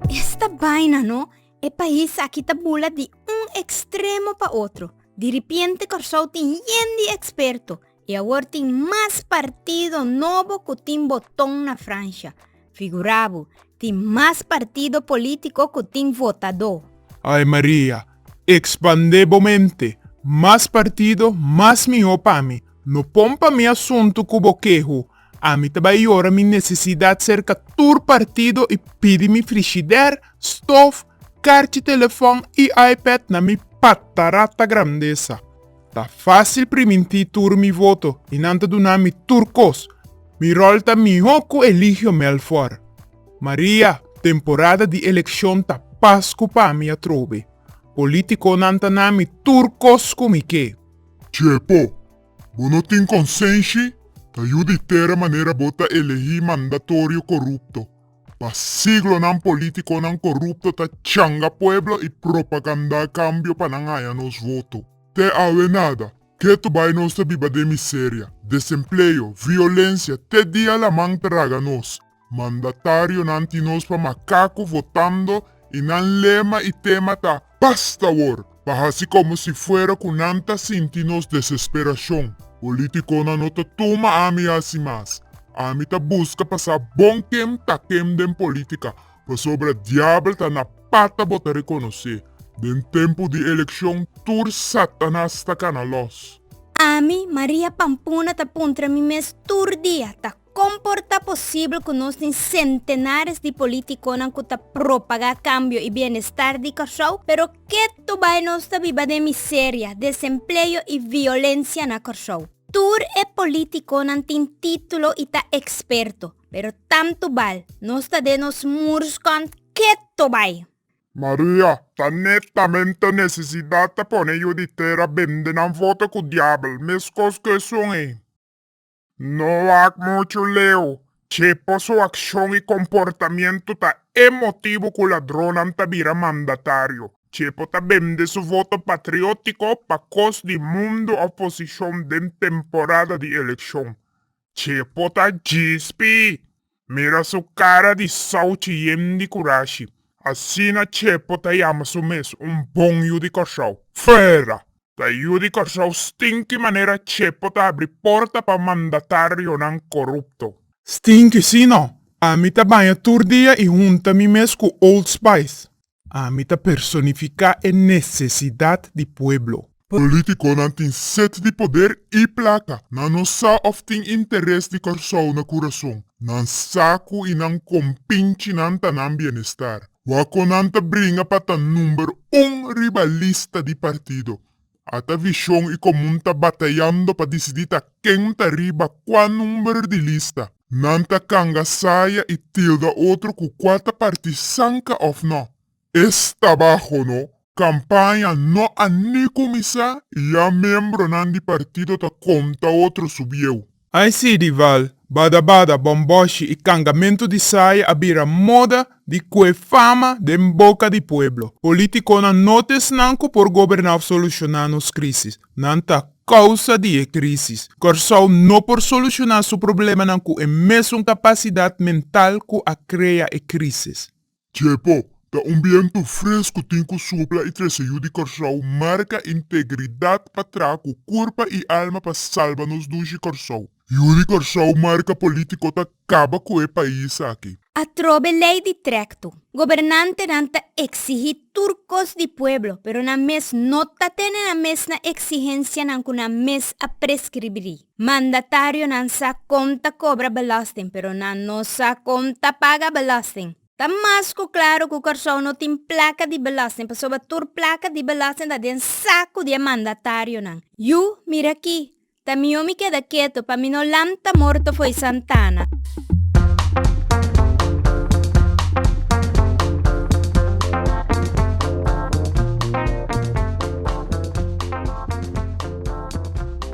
Esta baina no, e pais aki ta bula di un extremo pa otro. Diripiente Kòrsou tin yen di eksperto i awor tin mas partido nobo ku tin boton na Fransha. Figura bo, tin mas partido politico cu tin votador. Ay Maria, expande bo mente, mas partido mas miho pa mi, no pon pa mi asunto cu bo keho, ami ta bay yora mi necesidad cerca tur partido y pidi mi frishider, stof, carchi telefon y ipad na mi patarata grandesa. Ta fásil pri mintí tur mi voto i nan ta duna mi tur kos. Mi ròl ta mihó ku Eligio Melfort. Maria, Temporada di elekshon ta pas ku pa mi atrobe. Polítikonan ta na mi tur kos ku mi ke. Chepo, Bo no tin konsenshi? Ta yu di tera manera bo ta elegí mandatorio korupto. Pa siglonan politiconan corupto ta changa pueblo y propaganda cambio pa nan haya nos voto. Te awe nada. Ketu bay nos ta biba den miseria, desempleo, violencia, te dia laman traga nos. Mandatarionan tin nos pa macaco votando y nan lema y tema ta, Past awor, pa hasi komo si fuera ku nan ta sinti nos desesperashon. Polítikonan no ta tuma ami hasi mas. Ami ta buska pasá bon tem ta tem den polítika, pasobra diabel ta na pata bo ta rekonosé. Den tempu di elekshon tur Satanas ta kana lòs. Ami, Maria Pampuna, ta puntra mi mes tur dia, Ta Kon por ta posibel ku nos tin sentenares di polítikonan ku ta propagá kambio i bienestar di Kòrsou, pero ketu bai nos ta biba den miseria, desempleo i violensia na Kòrsou? Tur e polítikonan tin título i ta eksperto, pero tantu bal nos ta den nos murskònt ketu bai! Maria, Ta netamente nesesidat ta pone yu di tera bende nan voto ku diabel, meskos ku esun ei. No wak muchu leu. Chepo su akshon i komportamentu ta e motibu ku ladronnan ta bira mandatario. Chepo ta bende su voto patriótiko pa kos di mundu oposishon den temporada di elekshon. Chepo ta djispi! Mira su cara di souchi yen di curashi. Asina Chepo ta yama su mes, un bon yu di Corsou. Fuera! Ta yu di Corsou stinki manera Chepo ta abri porta pa mandatarionan corupto. Stinki, si no? Ami ta baña tur dia y hunta mi mes cu Old Spice. Ami ta personifiká e nesesidat di pueblo. Polítikonan tin set di poder i plaka. Nan no sa òf tin interes di Kòrsou na kurason. Nan sa ku i nan kompinchinan ta nan bienestar. Wak kon nan ta bringa pa ta number un riba lista di partido. Ata vishon i komun ta batayando pa disidí ta ken ta riba kua number di lista. Nan ta kanga saya i tilda otro ku kua ta parti sanka òf nò. E stabaho no. Kampaña no a ni kuminsá i ya membronan di partido ta konta otro subieu. I see di val, bada bada, bon boshi i kangamentu di saya a bira moda di kue fama den boka di pueblo. Politiconan no ta esnan cu por goberna of soluciona nos crisis. Nan ta causa di e crisis. Corsou no por soluciona su problemanan cu e mesun capacidad mental cu a crea e crisis. Txepo, ta un bientu fres ku tin ku supla i trese yu di Kòrsou marka integridat pa traha ku kurpa i alma pa salba nos dushi Kòrsou. Yu di Kòrsou marka polítiko ta kaba ku e pais aki. Atrobe lei di trèktu, gobernantenan ta eksihí tur kos di pueblo, pero nan mes no ta tene nan mes na eksihensianan ku nan mes a preskribrí. Mandatarionan sa kon ta kobra belòsting, pero nan no sa kon ta paga belòsting. Ta mas ku klaro ku Kòrsou no tin plaka di belòsting pasobra tur plaka di belòsting ta den saku di e mandatarionan. Yu, mira aki, ta mihó mi keda ketu pa mi no lanta morto fo'i Santana.